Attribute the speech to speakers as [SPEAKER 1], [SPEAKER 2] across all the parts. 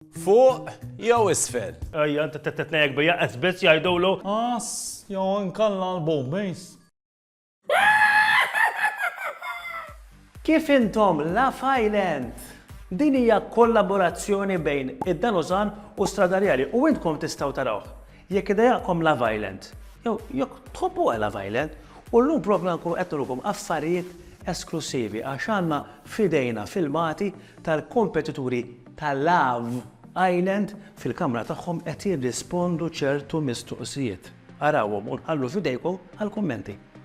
[SPEAKER 1] Fuq jew isfel? Ejja, t-tnejek
[SPEAKER 2] bija esbiz jajdulu. As, jew
[SPEAKER 3] nkalla l-bombejs.
[SPEAKER 4] Kif intom la fajlent? Din hija kollaborazzjoni bejn id-Danuzan u Stradarjali u intkom tistgħu tarawh. Jekk idejaqkom Love Island, jew jekk tħobbuha Love Island, u llum propju ħankunu qed nurukom affarijiet esklussivi għax għandna f'idejna filmati tal-kompetituri ta' Love Island fil-kamra tagħhom qed jirrispondu ċertu mistoqsijiet. Arawhom u nħallu f'idejkom għall-kummenti.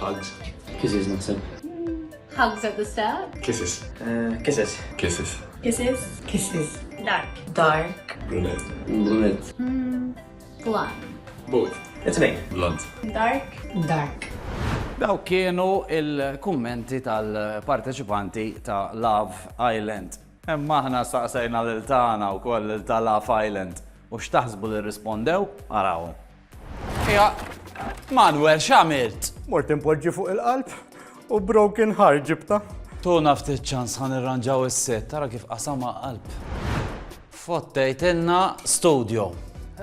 [SPEAKER 5] Hugs. Kisses
[SPEAKER 6] naħseb. Hugs
[SPEAKER 7] at the start. Kisses. Eh,
[SPEAKER 5] kisses.
[SPEAKER 6] Kisses.
[SPEAKER 5] Kisses.
[SPEAKER 8] Kisses.
[SPEAKER 7] Dark.
[SPEAKER 8] Dark. Brunette.
[SPEAKER 6] Brunette.
[SPEAKER 7] Mm, blonde.
[SPEAKER 5] Both. It's me.
[SPEAKER 6] Blonde. Dark.
[SPEAKER 8] Dark.
[SPEAKER 7] Daw
[SPEAKER 1] kienu il-kummenti tal-parteċipanti ta' Love Island. Imma aħna saqsejna lil tagħna wkoll lil ta' Love Island u x'taħsbu li rrispondew? Araw. Ija, Manuel, x'għamilt? Mort impoġġi fuq
[SPEAKER 3] il-qalb u broken heart ġibta. Tuna ftit
[SPEAKER 1] ċans ħan irranġaw is-set, tara kif qasama qalb. Fottejt inna studio.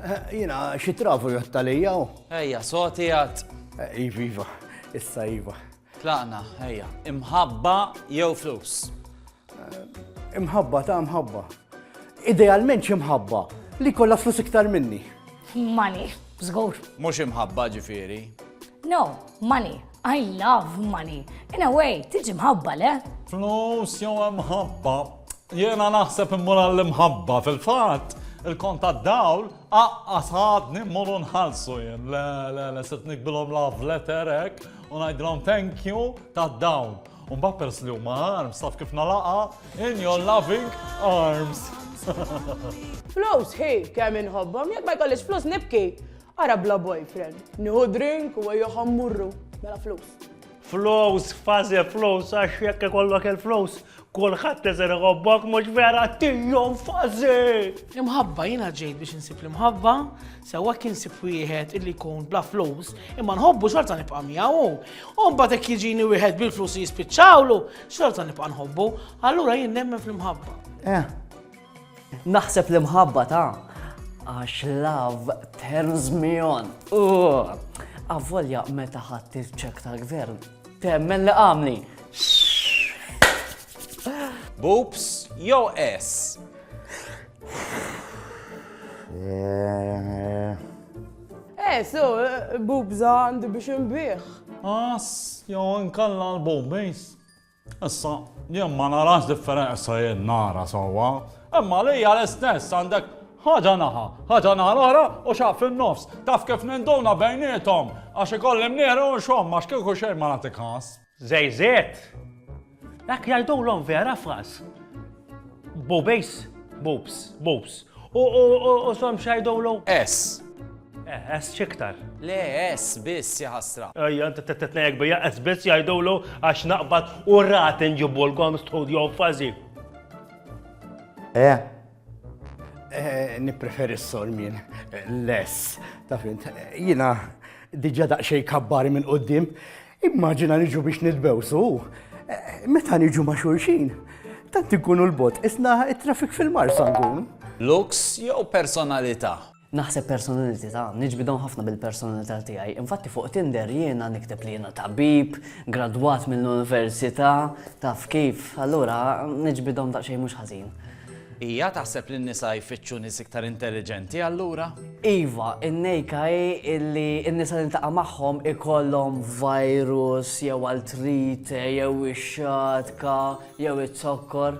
[SPEAKER 1] Eh, jina,
[SPEAKER 3] xi trafu jottalija? Ejja, soti għad.
[SPEAKER 1] Eh, iva, iva,
[SPEAKER 3] issa iva. Tlaqna,
[SPEAKER 1] ejja. Imħabba jew flus? Imħabba
[SPEAKER 3] ta' imħabba. Idealment xi mħabba li kollha flus iktar minni. Money,
[SPEAKER 7] żgur. Mhux imħabba
[SPEAKER 1] ġifieri. No,
[SPEAKER 7] money. I love money. In a way, tiġi mħabba le? Flus jew
[SPEAKER 3] imħabba. Jiena naħseb immur għall-imħabba fil-fatt il-kont tad-dawl Aqqas ħadni mmorru nħallsu jien, le le le sirt nikbilhom love letter hekk u ngħidilhom thank you ta' dawn. U mbagħad peress li huma arms taf kif nalaqha in your loving arms.
[SPEAKER 9] Flus hi kemm inħobbhom, jekk ma jkollix flus nibki. Ara bla boyfriend, nieħu drink u ejjew ħammurru. Mela flus. Flus,
[SPEAKER 2] fażi flus, għax jekk ikollok il-flus, kulħadd isir iħobbok, mhux vera, Tio Fażi! L-imħabba, jiena
[SPEAKER 9] ġejt biex insib l-imħabba, sewwa jekk insib wieħed illi jkun bla flus, imma nħobbu xorta nibqa' miegħu hu. U mbagħad jekk jiġini wieħed bil-flus li jispiċċawlu, xorta nibqa' nħobbu, allura jien nemmen fl-imħabba. Eh,
[SPEAKER 4] Naħseb l-imħabba ta' għax love turns me on. Avvolja meta ħadd il-ċek tal-gvern temmen li għamli.
[SPEAKER 1] Boops jew S?
[SPEAKER 9] Eh, so, bubza għandi biex nbih. As,
[SPEAKER 3] jew nkalla l-bombejs. Issa, jien ma narax differen, issa jien nara sewwa, imma għalija l-istess għandek ħaġa naħa, ħaġa naħa l-oħra u xaqq fin-nofs. Taf kif ninduna bejniethom? Għax ikolli mnieħri u nxomm għax kieku xejn ma nagħti kas. Żejżiet!
[SPEAKER 2] Dak jgħidulhom vera fras. Bubejs, bubs, bubs. U u u u som xgħidulu? Ess.
[SPEAKER 1] Eh, es
[SPEAKER 2] xiktar. Le, es
[SPEAKER 1] biss jaħasra. Ejja, t-tnejek
[SPEAKER 2] bija es biss jajdulu għax naqbad u rat nġibu l-kom studio fazi. Eh,
[SPEAKER 3] eh nipreferi s-sormin, less, ta' fint, jina diġa daqxej kabbari minn qoddim, immaġina niġu biex nitbewsu, eh, meta niġu ma' xulxin, tant ikunu l-bot, isna trafik fil-mar sangun. Lux jew
[SPEAKER 1] personalità? Naħseb
[SPEAKER 4] personalitità, niġbid hawn ħafna bil-personalità tiegħi. Infatti fuq Tinder jiena nikteb li jiena tabib, gradwat mill-università, taf kif, allura niġbidhom daqsxejn mhux ħażin. Hija
[SPEAKER 1] taħseb li n-nisa jfittxu nies iktar intelliġenti allura? Iva,
[SPEAKER 10] in-nejka hi illi n-nisa li niltaqa' magħhom ikollhom virus jew artrite jew ix-xatka jew iz-zokkor.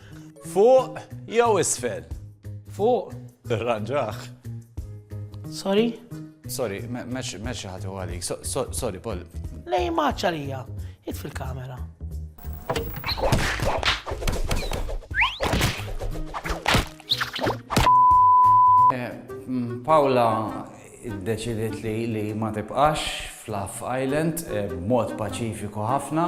[SPEAKER 2] Fuq
[SPEAKER 1] jew isfel? Fuq.
[SPEAKER 9] Irranġaħ. Sorry? Sorry,
[SPEAKER 1] meċ ħatu għalik. Sorry, Paul. Lej maċċa
[SPEAKER 9] lija. It fil-kamera.
[SPEAKER 1] Eh, mm, Paula id-deċidiet li li ma tibqax fl-Aff Island eh, b'mod paċifiku ħafna.